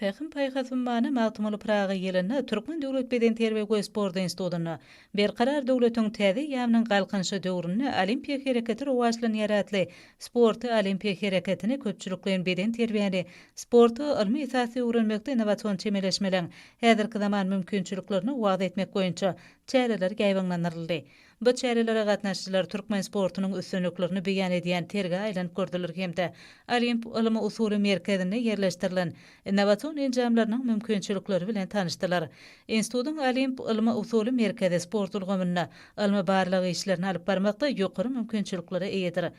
Pähim-paýhas ummany Magtymguly Pyraga ýylynda Türkmen döwlet bedenterbiýe we sport institutynda Berkarar döwletiň täze eýýamynyň Galkynyşy döwründe olimpiýa hereketi rowaçlanýar atly Sporty, olimpiýa hereketini, köpçülikleýin bedenterbiýäni, sporty ylmy esasda öwrenmekde innowasion çemeleşmeleň häzirki zaman mümkinçiliklerini wagyz etmek boýunça çäreler ýaýbaňlandyryldy. Bu çärelere gatnaşyjylar türkmen sportunyň üstünliklerini beýan edýän sergä aýlanyp gördüler hem-de Olimp ylmy-usuly merkezinde ýerleşdirilen innowasion enjamlarynyň mümkinçilikleri bilen tanyşdylar. Institutyň Olimp ylmy-usuly merkezi sport ulgamynda ylmy-barlag işlerini alyp barmakda ýokary mümkinçiliklere eýedir.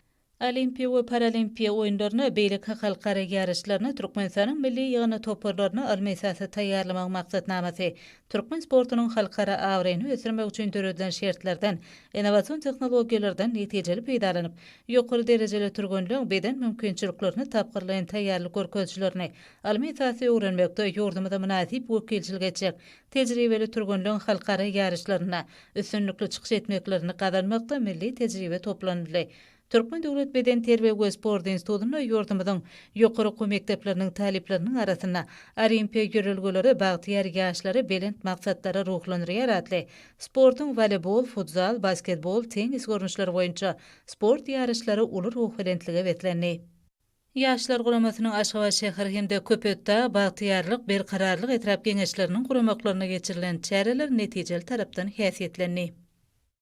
Olimpiýa we Paralimpiýa oýunlaryna, beýleki halkara ýaryşlaryna Türkmenistanyň milli ýygyndy toparlaryny ylmy esasda taýýarlamagyň maksatnamasy türkmen sportunyň halkara abraýyny ösdürmek üçin döredilen şertlerden, innowasion tehnologiýalardan netijeli peýdalanyp, ýokary derejeli türgenleň beden mümkinçiliklerini tapgyrlaýyn taýýarlyk görkezijlerini ylmy esasda öwrenmekde ýurdumyza mynasyp wekilçilik etjek tejribeli türgenleň halkara ýaryşlarynda üstünlikli çykyş etmeklerini gazanmakda milli tejribe toplanyldy. Türkmen döwlet bedenterbiýe we sport institutynda ýurdumyzyň ýokary okuw mekdepleriniň talyplarynyň arasynda Olimpiýa ýörelgeleri bagtyýar ýaşlary belent maksatlara ruhlandyrýar atly sportuň woleýbol, futzal, basketbol, tennis görnüşleri boýunça sport ýaryşlary uly ruhubelentlige beslendi. Ýaşlar guramasynyň Aşgabat şäher hem-de Köpetdag, Bagtyýarlyk, Berkararlyk etrap Geňeşleriniň guramaklaryna geçirilen çäreler netijeli tarapdan häsiýetlendi.